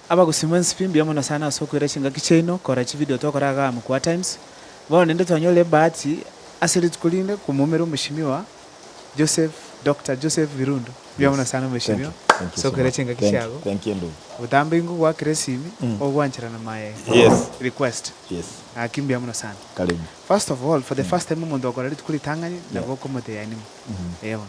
Abagusii mwensi pi mbuya mono sana ase okoira chingaki chiaino korora chivideo tokora igaa Mkubwa Times. Bono ninde twanyorire ebahati ase rituko rinde komoumera Omweshimiwa Joseph Doctor Joseph Birundu. Mbuya mono sana Omweshimiwa ase okoira chingaki chiago. Botambe ingo gwaakera esimi ogwanchera na my request. Naki mbuya mono sana. First of all for the first time omonto ogokora rituko ritang'ani nabo okomoteyanima. Eeh bono.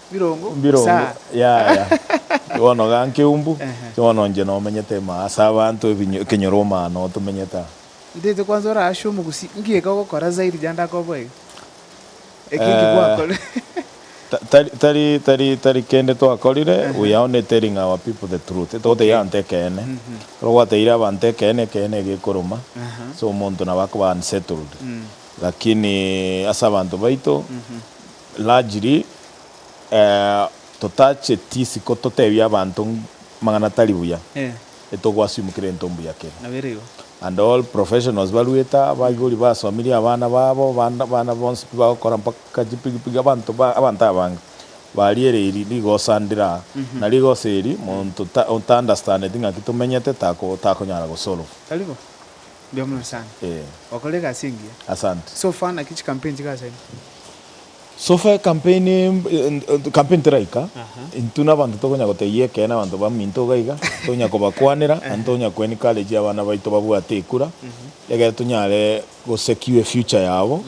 Birongo birongo yaya bono iga nkeumbu bono inche nomenyete ime ase abanto ekenyoro omano tomenyete aa. Ntaete kwanza ore ase omogusii nki geka ogokora zaidi riria ndakoboa iga? Eki nki gwakorire? Tari tari tari tari kende twakorire we are only telling our people the truth togoteira abanto ekeene ekero gwateire abanto ekeene ekeene iga ekoruma so omonto nabo akoba unsettled lakini ase abanto baito. Largely, totacheti isiko totebie abanto mang'ana tari buya, etogwasiumukera into mbuya kere. And all professionals baruete, abaibori basomirie abana babo, abana bonsi pi bagokora mpaka chipigipigi, abanto abanto abange baria ere eri rigosa ndire aa, na rigosa eri monto otaunderstandeti ng'aki tomenyete takonyara gosolve. Mbuya mono sana. Eh. Wakora egasi engiya. Asante. So far naki chikampeni chigasaini? So far ekampeni kampeni teraika, Aha. intwe nabanto tokonya gotebia ekeene abanto baminto iga iga, tonya kobakwanera, naende tonya ko encourage abana baito babwate ekura, egere tonyare go secure efuture yabo,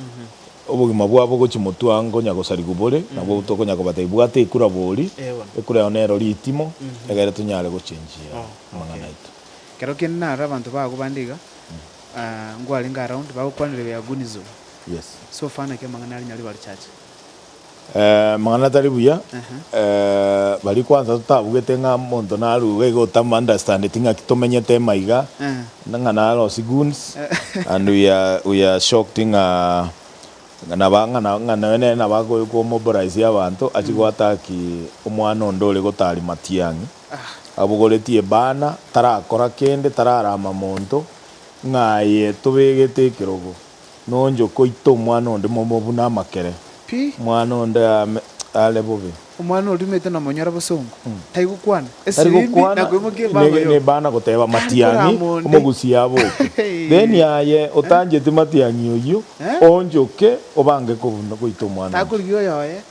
obogima bwabo gochia motwe ngonya gosarigwa bore, nabo tokonya kobatebia bwata ekura borie, Eeh bono. ekura eye nero ritimo, egere tonyare gochengia Oh, amang'ana okay. aito. Ekero kende naro abanto bago bande iga, nkwarenge around, bagokwanire we are Gunizo. So far naki amang'ana aria nyaribari chache. Amang'ana tari buya, baria kwansa totabugete ng'a omonto narurwe iga otamu understandeti ng'aki tomenyete ime iga, ng'a narosie goons and we are we are shocked ng'a naba ng'a noyo nere nabo akomobilize abanto achie goattack omwana onde ore gotari Matiang'i. Abogoretie ebana, tarakora kende, tararama monto, ng'a aye tobegete ekerogo, nonchokoita omwana onde momo buna amakere, Pi. Omwana onde ame are bobe. Omwana oria omete nomonyora bosongo, tari gokwana, Tari esibimbi gokwana, nakoimokia ebanga ne- yoka. nebana goteba Tari Matiang'i korama onde. omogusie aboke. Then aye otancheti Matiang'i oyio, Eh. onchoke obange kobuna goita omwana onde. Takorigia oyoye,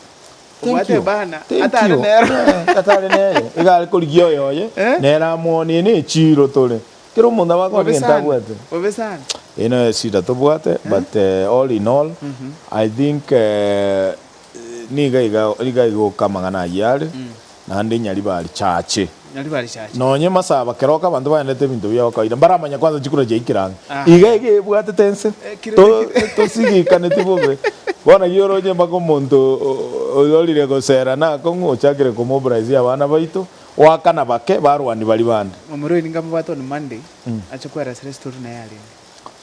Thank you. Thank you. Eh, atare nere. Iga are korigia oyoye. Eh? Nere amwonie ne echiro tore. Kero omonto aba akore gento abwate. Bobe sana. Eye no eshida tobwate but eh, all in all I think eh, niga iga iga iga oka amang'ana ayio are. naende Nyaribari chaache. Nyaribari chaache. Nonye Masaba, keroka abanto baendete ebinto bia kawaida, mbaramanye kwanza chikura chiaikire ang'e. Aye. Iga iga ebwatete ense. Ekire To- na kire. Tosigikaneti bobe. Bono ki oroche mpaka omonto o- orire gosera nakong'u ochakire komobraisia abana baito, oakana bake, barwani baria bande. Omorwani nkamobwate on Monday, ache kwerasera story naye arenge.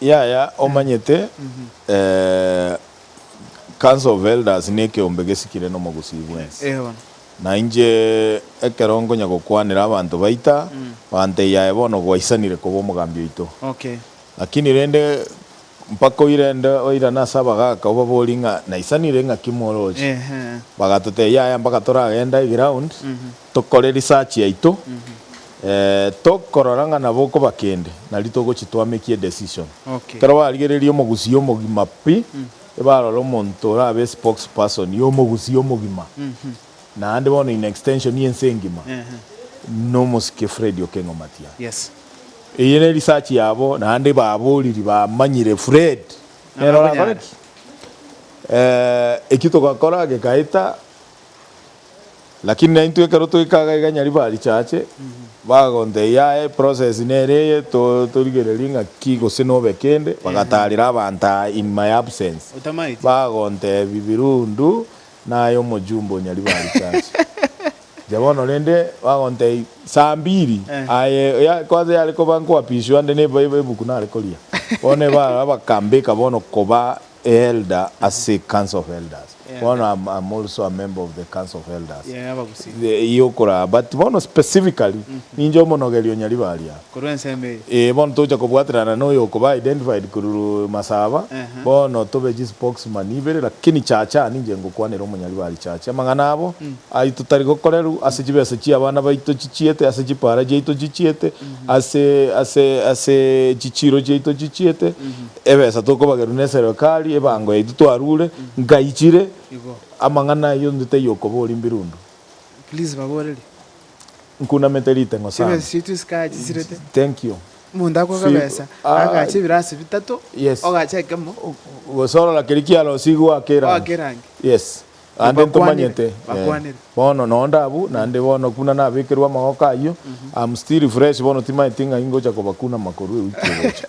Yaya, omanyete, eh, Council of Elders nekeombe gesikire nomogusii bwensi. Eeh bono. Na inche ekero nkonya gokwanera abanto baita, banteiya aye bono gwaisanire koba omogambi oito. Okay. Lakini rende mpaka oirende oirane ase abagaaka obaborie ng'a naisanire ng'aki moroche? Eeh. Bagatotebia yaya mpaka toragende eground. Tokore research yaito tokorora ng'a nabo okoba kende nari togochi twameki e decision. Ekero barigereria omogusia omogima pi, ebarora omonto orabe spokes person y'omogusia omogima naende bono in extension y'ense engima nomosike Fred Okengo Omatia. Eye ne research yabo naende baboriri bamanyire Fred nere orakore ki? Ekio togakora gekaeta. Lakini naintwe ekero toika iga iga nyariba richache, bagontebia aye process nere eye to torigererie ng'aki gose nobe kende, bagatarera abanto aa in my absence, bagontebia Birundu naye omojumbe o nyariba richache. Inche bono rende bagontebia saa mbiri aye ya kwanza yare koba nkoapiswa nde ne ebuku nare koria, bono eba abakambeka bono koba A elder ase council of elders bono am am also a member of the council of elders Yeah abagusii. the iyio okoraa but bono specifically ninche omonogeri o nyaribo aria Korwa ensemo eye. Ee bono togocha kobwaterana na oyo okoba identified korwa masaba Ehe. bono tobe chi spokesman ibere lakini chacha ninche ngokwanera omonyaribo aria chacha amang'ana abo aito tari gokoreru ase chibesa chia abana baito chichiete ase chipara chiaito chichiete ase ase ase chichiro chiaito chichiete Ebesa tokobagerwa neserikari ebango yaito twarure nkaichire Igo. amang'ana ayio onde taiyo okoba orimbirundu. Please baborerie. Nkunamete ritengo sana. Chibesa chiaito esikaya chisirete. Thank you. Omonto akoga ebesa agache ebirasi bitato Yes. ogache ekemo. Gose orora keria kiarosigo oake erangi. Oake erangi. Yes. Ande ntomanyete. Bakwanire. Eh. Bono no ndabu naende bono kuna nabekerwe amagoko ayio. I'm still fresh bono timaeti ng'ai ngocha kobakunama korwa ewiki egocha.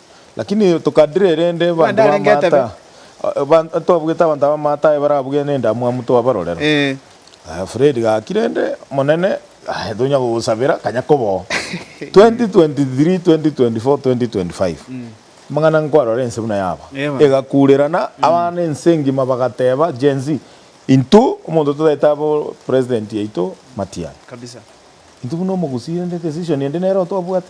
Lakini tokadire erende abanto Bande arenge b'amaata etabe. a- eban- ntobwete abanto b'amaata aye barabuge nendamwamu twabarorera. Eh. Aya Fred gaki rende omonene aye tonya gogosabera kanya koboo. 2023, 2024, 2025. Amang'ana nkwarora ense buna yaba. Eeh bana. Egakurerana abana ense ngima bagateba Gen-z intwe omonto totaete abo president yaito matian. Kabisa. Intwe buna omogusii rende decision ende nero twabwate.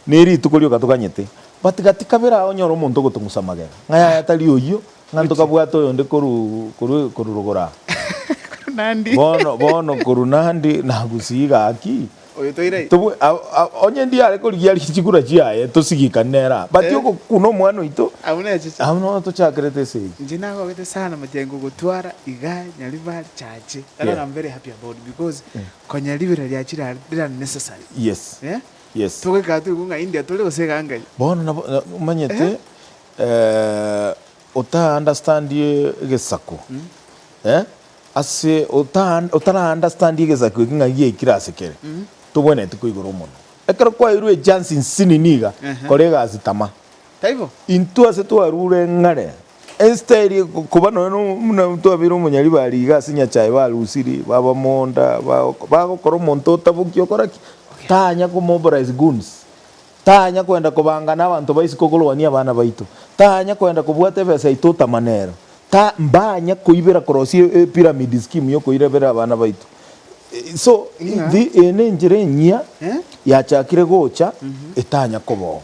Ne rituko rioka toganyete. But gati kabere ago onyore omonto ogotong'usa magega, ng'a yaya tari oyio, ng'a ntokabwate oyonde koruu koruu koruu rogora. Bono bono koruu Nandi nagusii gaki. Oyo toire aye. Tobwe a a onye ndiare korigia ri chikura chiaye tosigikani nere aa. But ogokuna omwana oito, Abwo nechiche. abwo no tochakerete ase eyio. Inche nagogete sana mache nkogotwara igaa Nyaribari chache. Tara Yeah. na I'm very happy about because Konya ribera ria chirare rira necessary. Yes. Eh? Yes. Togoikara toigwe ng'a India tore gose egangai. Bono nabo omanyete eh ota understandie egesaku eh ase ota otara understandie egesaku eki ng'a giaikire ase kere tobwenereti koigora omonwa. Ekero kwairwe echance nsinini iga kora egasi tama. Taibo. Intwe ase twarure ng'are Esiteri, koba nonya nomuna twabeire omonyaribari iga ase Nyachae barusirie, baba monda, bagokora omonto otaboki okora ki? Tanya ko mobilize goons, tanya koenda kobangana abanto ba isiko korwania abana baito, tanya koenda kobwata ebesa yaito otamane ero, ta mbanya koibera korosia epiramid scheme yokoirabera abana baito. So eye nenchera enyia yachakire gocha etanya koba oo.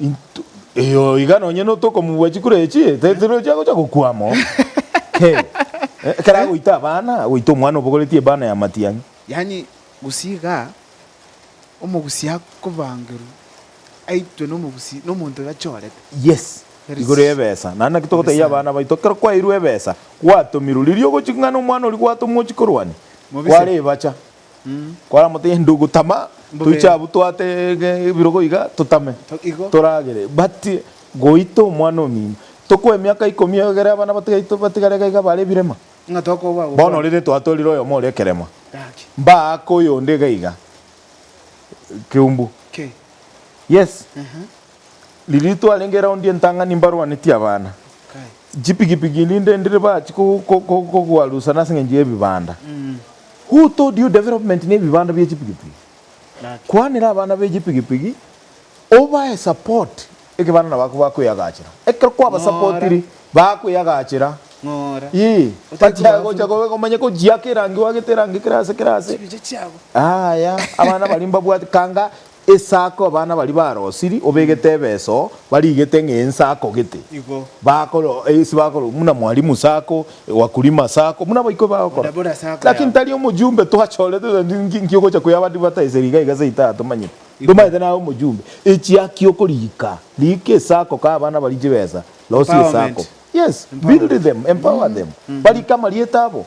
Into, eyo iga nonye no tokomubua chikura echi, te- tero chiagocha gokwa amo. He. Eh, Ekero agoita abana, agoita omwana obogoretie ebana ya matiang'i. Yaani gusii iga omogusi akobangerwa aitwe nomogusi nomonto iga chorete. Yes, Very igoro ya ebesa. Naende naki togotebia Ebesa. abana baito, ekero kwaeirwe ebesa, gwatomirwe, riria ogochia ng'ana omwana oria gwatomwa ochia korwania, Mobise. kware ebacha. Kora mote gento gotama toiche abwo twate ebirogo iga totame toragere but goita omwana omino tokoe emiaka ikomi egere abana batigaitwe batigare iga iga bare ebirema bono ore rento atorire oyomo ore ekerema mbaake oyonde iga iga ekeumbu yes Riria twarenge eraundi entang'ani mbarwanetie abana, chipigipigi rinde ndire bachi kogwarusana ase eng'encho y'ebibanda. Who told you development ne ebibanda bie chipigipigi? Kwanera abana be chipigipigi obae support ekebana nabo ako bakweyagachera. Ekero kwabasupportiri bakweyagachera. Ii. Bachiaye gocha kobe komanya kochiaka erangi wagete erangi kerase kerase. Aya abana baria mbabwate kanga Esako abana baria barosiri obegete ebeso barigete ng'a ensako gete Igo. bakoro ase bakoro buna mwalimu sako wakulima sako buna baikwa bagokora Onde buna sako lakini yabo. tari omojumbe twachorete tari nki nki ogocha koya abandi bataeseri iga iga seita yatomanyete ntomanyete naye omojumbe echiaki okorika rika esako ka abana barie chibesa losie Empowerment. esako yes build Empowerment. them empower them barike amarieta abo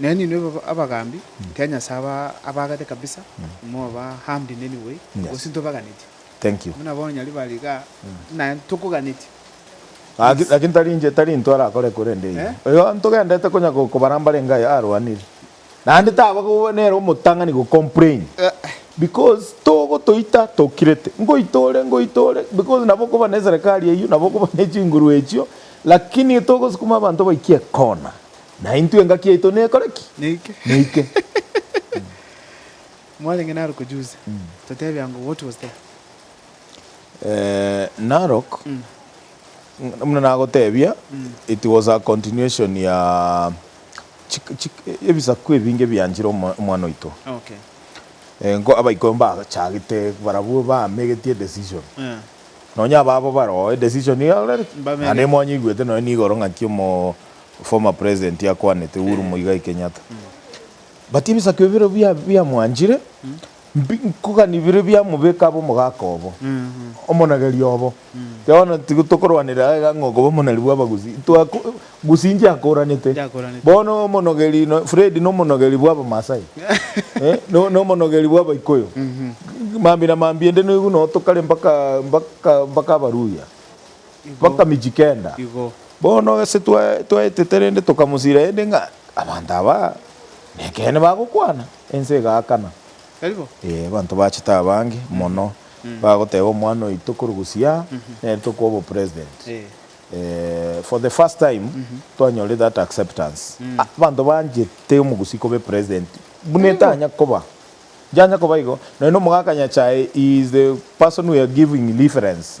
Nenyinwe iba abagaambi, ekiagera Nyasae abaagete kabisa, moba aambi neni bwe, gose ntobaganetie. Buna bono nyari bari igaa, naye ntokoganetie. Gaki, gaki ntari inche, tari intwe arakore korende iye. Oyo ntogendete konya go, kobara mbarenge aye arwanire. Naende taba goba nere omotang'ani go complain. Because togotoita tokirete, ngoita ore, ngoita ore, because nabo okoba neserekari eyio, nabo okoba nechinguru echio, lakini togosukuma abanto baike ecorner, Naintwe engaki yaito nekore ki? Neike. Mwarenge Narok juzi, totebia ng'o what was there? Eeh, Narok, buna nagotebia, it was a continuation ya chik- chik- ebisaku ebinge bianchire omo- omwana oito. Okay. Eh, nko abaikoro mbachagete barabwo bamegetie edecision. Eh. Nonya ababo baroo edecision iga orareti? Mbamegete. Naende mwanyeigwete nonya nigoro ng'aki omo- Former president akwanete Uhuru Muigai Kenyatta but ebisakio bire biamwanchire mbi nkogani bire biamobeka abe omogaka obo omonageri obo kero bono tigo tokorwanera aiga ng'a okoba omonari bwa abagusii ntwako gusii ntiakoranete bono omonogeri no Fred no omonogeri bwa abamasai no no omonogeri bwa abaikuyu mambi na mambi ende noigu no tokare mpaka mpaka mpaka abaluhya Mpaka michi kenda. Bono gose twaetete rende tokamosira aende ng'a abanto aba nekeene bagokwana, ense egaakana. Ee, abanto bachete abange mono bagoteba omwana oito korugusi aa nere tokoa obopresident. For the first time twanyorire that acceptance. Abanto banchete omogusii koba epresident buna etanya koba. Njanya koba igo. Nonya omogaka Nyachae he is the person we are giving reference.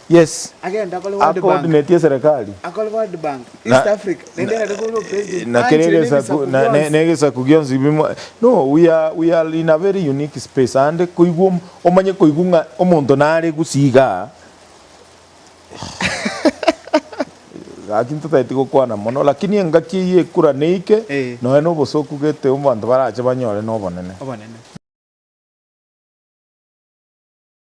Yes. Agenda akore World Bank. Acoordinate eserekari. Akore World Bank, East Africa, naende egere kore opresident, na kere aanchere egesaku nebisaku na- ne- bionsi. negesaku gionsi bimo no we are, we are in a very unique space aande koigwa om- omanye koigwa ng'a omonto nare gusii igaa gaki ntotagete gokwana mono lakini engaki eyio ekura neike Eh. nonya na obosoku gete abanto barache banyore na obonene. Obonene.